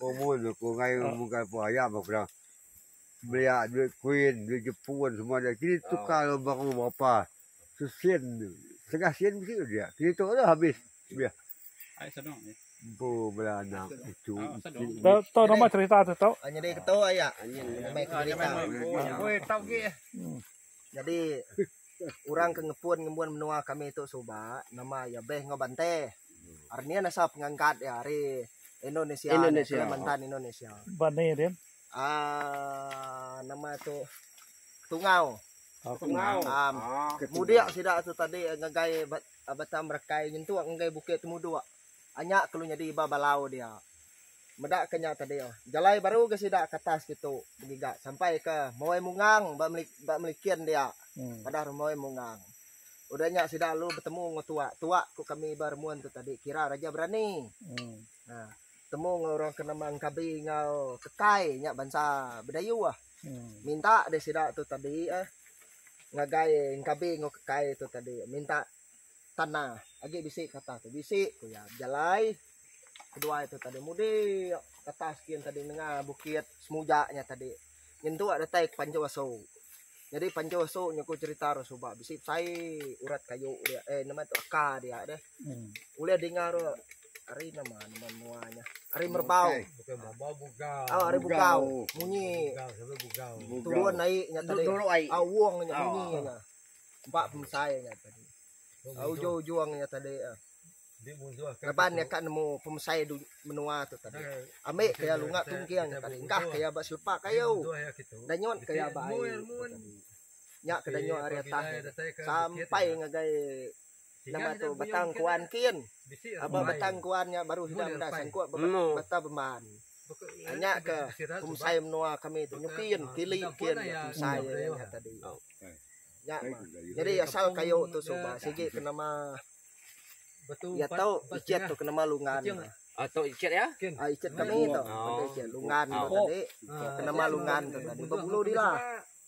Umur tu ku ngai bukai pa iya meh ku dah belia duit kuin duit jepun semua dah kini tukar lalu baru berapa sesin setengah sen bisi tu dia kini tu dah habis beh empu bala anak cucu iti. Nyadi orang ke ngepun ngembuan menua kami tu suba nama iya beh enggau bante. Ari nih asal pengangkat iya ari Indonesia, Indonesia. Kalimantan Indonesia. Bani dia. Ah nama tu Tungau. Oh, Tungau. Um, ah, mudik sida tu tadi ngagai Batang Berakai nyentuk ngagai Bukit Temuduk. Anya kelu nyadi iba balau dia. Meda ke nya tadi, jalai baru ga sida ke atas ditu begiga sampai ke Mawai Mungang ba Melikin dia padah rumah Mawai Mungang. Udah nya sida lalu betemu enggau tua, tua ku kami ba remun tu tadi kira Raja Berani. Nah, betemu enggau orang ke nama Engkabi enggau Kekai nya bansa Bidayuh bah. Minta deh sida tu tadi eh ngagai Engkabi enggau Kekai tu tadi minta Tanah agi bisi kata tu bisi ku iya bejalai kedua iya tu tadi mudik ke atas gin tadi nengah bukit semuja nya tadi nyentuk iya datai ke Panjau Asu. Jadi Panjau Asu nya ku cerita ru suba bisi besai urat kayu dia eh nama tu aka dia deh. Ulih dinga ru ari nama nama menua nya ari Merbau. Oh ari Bugau munyi turun ai nya tadi. Au wong nya munyi nya. Empa pemesai nya tadi. Uju ujung nya tadi. Laban iya ka nemu pemesai menua tu tadi. Ambi ke iya lunga tungking tadi. Engkah ke iya ba selepa kayu. Danyut ke iya ba ai. Nya ke danyut ari atas sampai ngagai. Nama tu batang kuan kin. Aba batang kuan nya baru sida meda sangkut ba bata bemban. Nya ke pemesai menua kami tu nyepin tili kin pemesai nya tadi. Nya nyadi asal kayu tu suba sigi ke nama iya tu ichet tu ke nama lungan. Ai tu ichet iya? Ai ichet kami tu. Lungan tu tadi ke nama lungan tu tadi bebulu dila.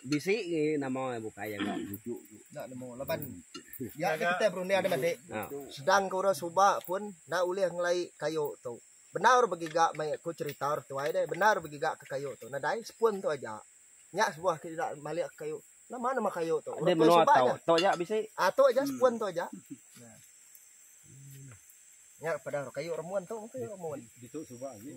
Bisi gi nama iya bukai jaga bujuk tu. Enda nemu laban iya ke kitai berunding ari madi. Sedang ke orang suba pun enda ulih ngelai kayu tu. Bendar begiga meh aku cerita orang tuai deh bendar begiga ke kayu tu nadai sepun tu aja. Nya sebuah ke ida malik kayu nama nama kayu tu. Orang tuai suba aja. Tu aja bisi. Aa tu aja sepun tu aja. Nya pada kayu remun tu meh kayu remun. Ditu suba agi.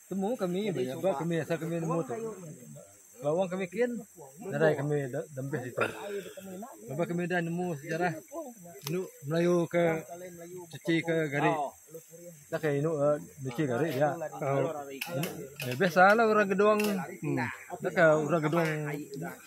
Temu kami ba iya sebab kami asal kami nemu tu. Lawang kami kin nadai kami dempih situ. Lebuh kami udah nemu sejarah inu Melayu ke cuci ke gari. Dah ke inu eh, nyuci gari dia. Eh, biasalah orang gedong. Dah ke orang gedong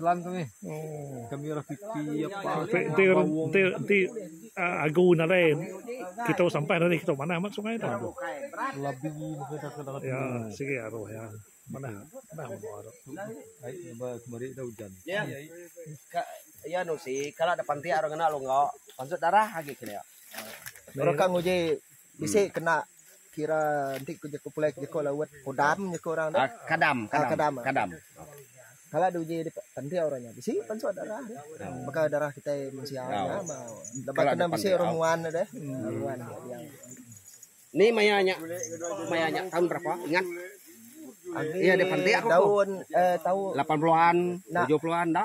Selang kami. Oh. Kami orang pipi apa. Ti ti ti, ti uh, agu nadai kita sampai dari kita mana amat sungai tu. Labi muka tak kena. Ya, sigi aru ya. Mana? Mana mau aru. Ai ba kemari dah hujan. Ya. Ka ya nu si kala ada panti orang kena longga. Pansut darah agi kena. Orang kang uji Bisi kena kira enti ku jeku pulai ku jeku lawat kodam jeku orang tu. Kadam, kadam. Kadam. kadam. Kala di uji penting orang nya bisi pansut darah dia. Baka darah kitai mensia nya lebuh kena bisi orang nguan dia deh. Nguan dia. Ni maya nya maya nya taun berapa ingat? Agi daun eh taun lapan puluhan, tujuh puluhan enda.